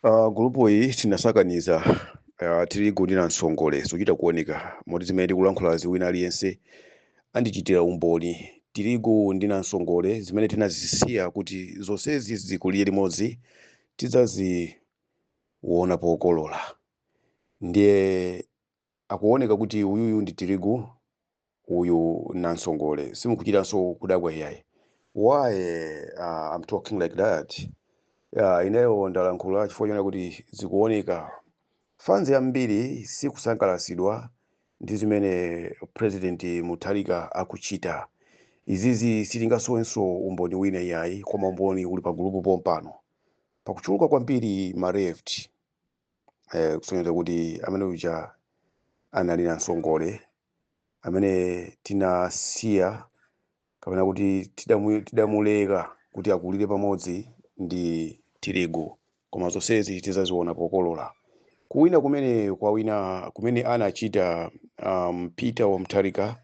Uh, gulupu iyi tinasakaniza uh, tirigu ndi nansongole zochita kuoneka moti zimene tikulankhulazi wina aliyense andichitira umboni tirigu ndi nansongole zimene tinazisiya kuti zonsezi zikulire limodzi tidzaziona pokolola ndiye Akuoneka kuti uyuyu ndi tirigu uyu nansongole simukuchitanso kudabwa iyayi. Why uh, I'm talking like that uh, ineyo ndalankhula chifukwa chona kuti zikuoneka fanzi yambiri sikusangalatsidwa ndi zimene president mutharika akuchita izizi sitingasowenso umboni wina iyayi koma umboni uli pa gulupu pompano pakuchuluka kwambiri ma left eh, kusonyeza kuti amene uja anali nansongole amene tinasiya kapena kuti tidamu- tidamuleka kuti akulire pamodzi ndi tirigu koma zonsezi tizaziona pokolola kuwina kumene kwawina kumene anachita um, peter wa Mutharika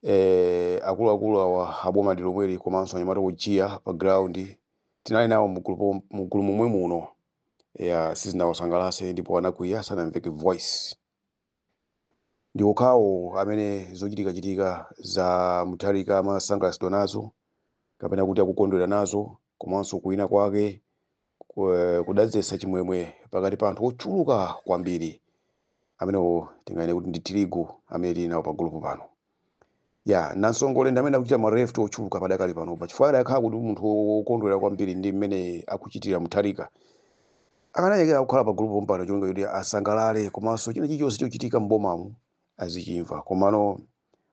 eh, akuluakulu awa aboma ndi lomweli komanso anyamata ojiya pa ground tinali nawo mugulu pom- mugulu momwe muno ya sizinawasangalase ndipo anakwiya sanamveke voice ndi okhawo amene zochitikachitika za mutharika amasangalatsidwa nazo kapena kuti akukondwera nazo komanso kuwina kwake ku- kudadzetsa chimwemwe pakati pa anthu ochuluka kwambiri amenewo tingayene kuti ndi tirigu amene tili nawo pa gulupu pano ya nansongole ndi amene akuchita ma left ochuluka padakali panopa chifukwa adakhala kuti munthu wokondwera kwambiri ndi mmene akuchitira mutharika akanayekera kukhala pa gulupu pompano chonga kuti asangalale komanso china chilichonse chochitika m'bomamu azichimva komano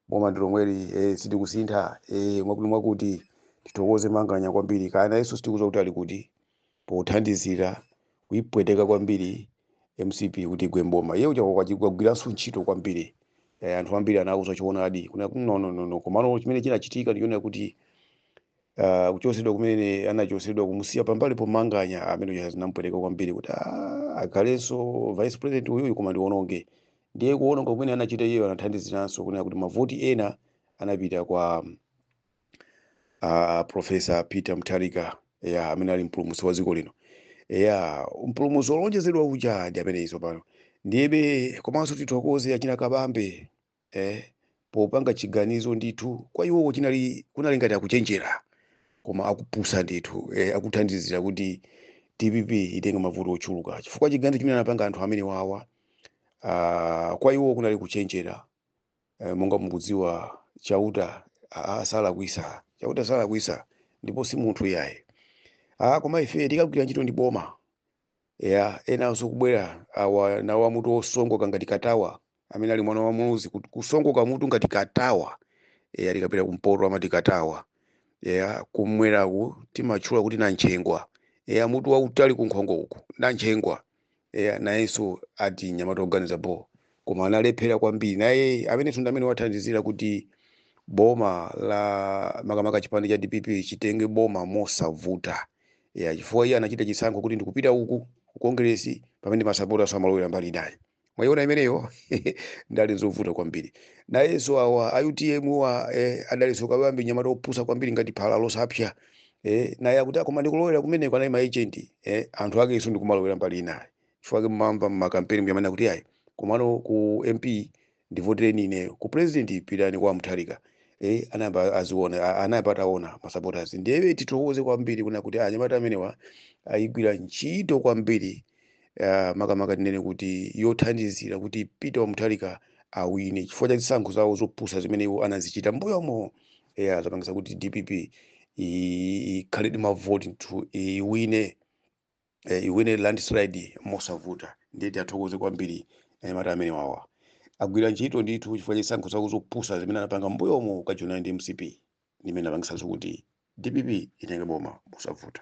boma ndi lomweli eh, sitikusintha eh, mwakuti mwakuti tithokoze manganya kwambiri kaya nayenso sitikuza kuti ali kuti pothandizira kuipweteka kwambiri mcp kuti igwe mboma iye uja wagwiranso ntchito kwambiri eh, anthu ambiri anauza choonadi kunena kuti no, no, no, no. komano chimene chinachitika ndichonena kuti uh, kuchosedwa kumene anachosedwa kumusiya pambali pomanganya amene uja zinampweteka kwambiri kuti "Ah, akhalenso vice president uyuyu koma ndiononge ndiye kuononga kumene anachita iyeyo anathandiziranso kunena kuti mavoti ena anapita kwa a profesa peter mutharika ya amene ali mpulumutsi wa dziko lino ya mpulumutsi wolonjezedwa uja ndi amene izo pano ndiyebe komanso tithokoze achina kabambe eh, popanga chiganizo ndithu kwa iwowo chinali kunali ngati akuchenjera koma akupusa ndithu eh, akuthandizira kuti dpp itenge mavoti ochuluka chifukwa chiganizo chimene anapanga anthu amene wawa ah, kwa iwowo kunali kuchenjera Eh, monga mukudziwa chauta aa salakwisa chauta salakwisa ndipo si munthu iyayi aa koma ife tikagwira ntchito ndi boma ya enanso kubwera awa nawo amutu osongoka ngati katawa amene ali mwana wa Muluzi kut- kusongoka mutu ngati katawa ya tikapita kumpoto amati katawa ya kumweraku timatchula kuti nanchengwa ya mutu wautali kunkhongo uku nanchengwa eya nayenso ati nyamata oganiza bho koma analephera kwambiri naye amene ndi amene wathandizira kuti boma la makamaka chipani cha dpp chitenge boma mosavuta ya chifukwa iye anachita chisankho kuti ndikupita uku ku kongresi pamene masapota samalowera mbali inayo mwayiona imeneyo ndale zovuta kwambiri nayenso awa a utm wa eh, adalinso Kabambe nyamata opusa kwambiri ngati phala losapsa eh, naye akuti "Ah, koma ndikulowera kumeneko anali maejenti eh, anthu akenso ndikumalowera mbali inayo chifukwa ake mumamva mmakampeni amanena kuti ayi komano ku mp ndivotereni ine ku president pitani kwa mutharika eh, anayamba aziona a- anayamba ataona masupporters ndiye tithokoze kwambiri kunena kuti anyamata amenewa ayigwira ntchito kwambiri uh, makamaka tinene kuti yothandizira kuti peter wa Mutharika awine chifukwa cha zisankho zawo zopusa zimene iwo anazichita mbuyomo ya zapangisa kuti dpp i- ikhale ndi mavoti ndithu iwine eh, iwine landslide mosavuta ndiye tiwathokoze kwambiri anyamata amene wawa agwira ntchito ndithu chifukwa cha zisankho zawo zopusa zimene anapanga mbuyomo kukajoinana ndi mcp ndimene apangisanso kuti dpp itenge boma mosavuta